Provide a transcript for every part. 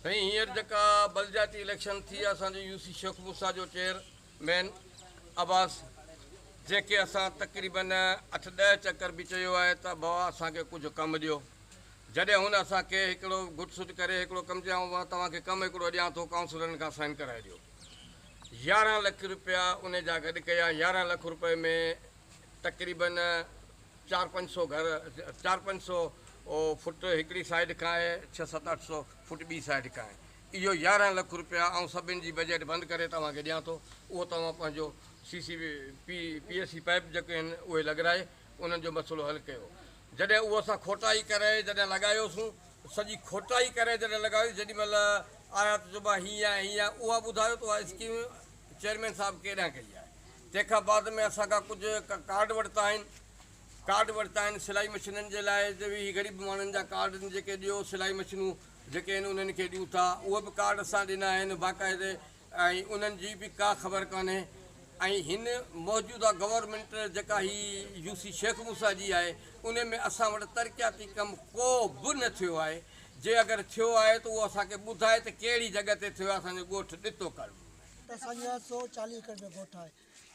سائين هينئر جيڪا بلدياتي اليڪشن ٿي اسان جو يو سي شيخ موسيٰ جو چيئر مين عباس جيڪي اسان تقريبن اٺ ڏهه چڪر به چيو آهي ته بابا اسان کي ڪجهه ڪم ڏيو جڏهن هن اسان کي هڪڙو گهٽ سٽ ڪري هڪڙو ڪم چيو آئون توهان کي ڪم هڪڙو ڏيان ٿو ڪائونسلرن کان سائين ڪرائي ڏيو يارهن لک روپيا ان جا گڏ ڪيا يارهن لک روپئي ۾ تقريبن چار پنج سو گهر چار پنج سو فوٽ هڪڙي سائيڊ کان آهي ڇهه ست اٺ سو فوٽ ٻي سائيڊ کان آهي اهو يارهن لک روپيا آئون سڀني جي بجيٽ بند ڪري توهان کي ڏيان ٿو اهو توهان پنهنجو C C P P S C pipe جيڪي آهن اهي لڳرائي انهن جو مسئلو حل ڪيو جڏهن اهو اسان کوٽائي ڪري جڏهن لڳايوسون سڄي کوٽائي ڪري جڏهن لڳايو جيڏي مهل آيا ته چئبو آهي هيئن آهي هيئن آهي اها ٻڌايو ته اها اسڪيم چيئرمين صاحب ڪيڏانهن ڪئي آهي تنهن کان بعد ۾ اسان کان ڪجهه ڪارڊ ورتا آهن ڪارڊ ورتا آهن سلائي مشينن جي لاء جو به هي غريب ماڻهن جا ڪارڊ آهن جيڪي ڏيو سلائي مشينون جيڪي آهن انهن کي ڏيون ٿا اهي به ڪارڊ اسان ڏنا آهن باقاعدي ۽ انهن جي به ڪا خبر ڪانهي ۽ هن موجوده گورنمينٽ جيڪا هي يو سي شيخ موسيٰ جي آهي ان ۾ اسان وٽ ترقياتي ڪم ڪو به نه ٿيو آهي جي اگر ٿيو آهي ته اهو اسان کي ٻڌائي ته ڪهڙي جڳهه تي ٿيو آهي اسان جو ڳوٺ ڏتو ڪالوني ۾ اسان جا سو چاليهه ايڪڙ جو ڳوٺ آهي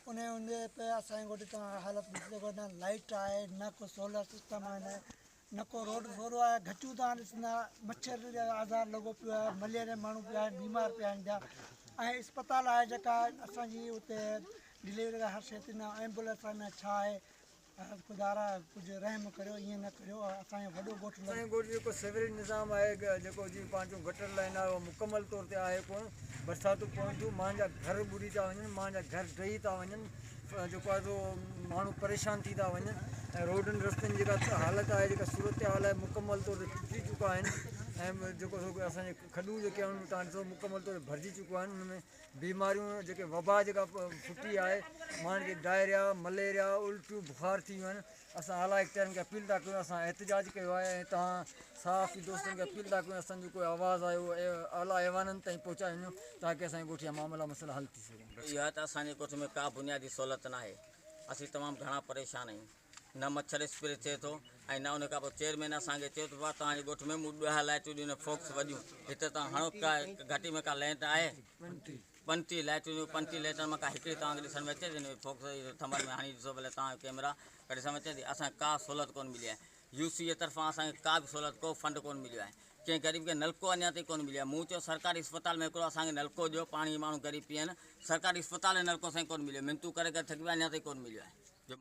انهي هوندي به اسان جي ڳوٺ جي حالت ڏسجي نه لائيٽ آهي نه ڪو سولر سسٽم آهي نه ڪو روڊ سولو آهي گچيون تان ڏسندا مڇر جو آزار لڳو پيو آهي مليريا ماڻهو پيا آهن بيمار پيا آهن پيا ۽ اسپتال آهي جيڪا اسان جي اتي ڊليوري لاء هر شيء ٿيندا ايمبولينس آهن نه ڇا آهي عرض خدارا ڪجهه رحم ڪريو ائين نه ڪريو اسان جو وڏو ڳوٺ لڳو. اسان جي ڳوٺ جو جيڪو سيوريج نظام آهي جيڪو جي پنهنجو گٽر لائين آهي اهو مڪمل طور تي آهي ڪونه برساتون پون ٿيون ماڻهن جا گهر ٻڏي ٿا وڃن ماڻهن جا گهر ڊهي ٿا وڃن جيڪو آهي سو ماڻهو پريشان ٿي ٿا وڃن ۽ روڊن رستن جي جيڪا حالت آهي جيڪا صورتحال آهي مڪمل طور تي ٽٽي چڪا آهن ۽ جيڪو اسان جي کڏون جيڪي آهن تان ڏسو مڪمل طور تي ڀرجي چڪيون آهن ان ۾ بيماريون جيڪي وبا جيڪا ڦٽي آهي ماڻهن کي ڊائريا مليريا الٽيون بخار ٿي ويون آهن اسان اعليٰ اختيارين کي اپيل ٿا ڪيون اسان احتجاج ڪيو آهي ۽ تهان صحافي دوستن کي اپيل ٿا ڪيون اسانجو ڪوئي آواز آهي اهو اعليٰ ايوانن تائين پهچائي وڃو تاڪي اسان جي ڳوٺ جا معاملا مسئلا حل ٿي سگهن. اها ته اسان جي ڳوٺ ۾ ڪا بنيادي سهولت ناهي اسين تمام گهڻا پريشان آهيون. نه مڇر اسپري ٿئي ٿو ۽ نه ان کان پوء چيئرمين اسان کي چيو ته بابا توهان جي ڳوٺ ۾ مون ڏهه لائٽون ڏنيون فوڪس وڏيون هتي توهان هڻو ڪا گهٽي ۾ ڪا لينٽ آهي پنٽي لائٽون ڏنيون پنٽي لينٽن مان ڪا هڪڙي توهان کي ڏسڻ ۾ اچي ٿي فوڪس ٿمن ۾ هڻي ڏسو ڀلي توهان ڪيمرا ڪڍي ڏسڻ ۾ اچي ٿي اسان کي ڪا سهولت ڪونه ملي آهي يو سي اي طرفان اسان کي ڪا به سهولت ڪو فنڊ ڪونه مليو آهي ڪنهن غريب کي نلڪو اڃا تائين ڪونه مليو آهي مون چيو سرڪاري اسپتال ۾ هڪڙو اسان کي نلڪو ڏيو پاڻي ماڻهو غريب پيئن سرڪاري اسپتال ۾ نلڪو سائين ڪونه مليو منتون ڪري ڪري ٿڪي پيا اڃا تائين ڪونه مليو آهي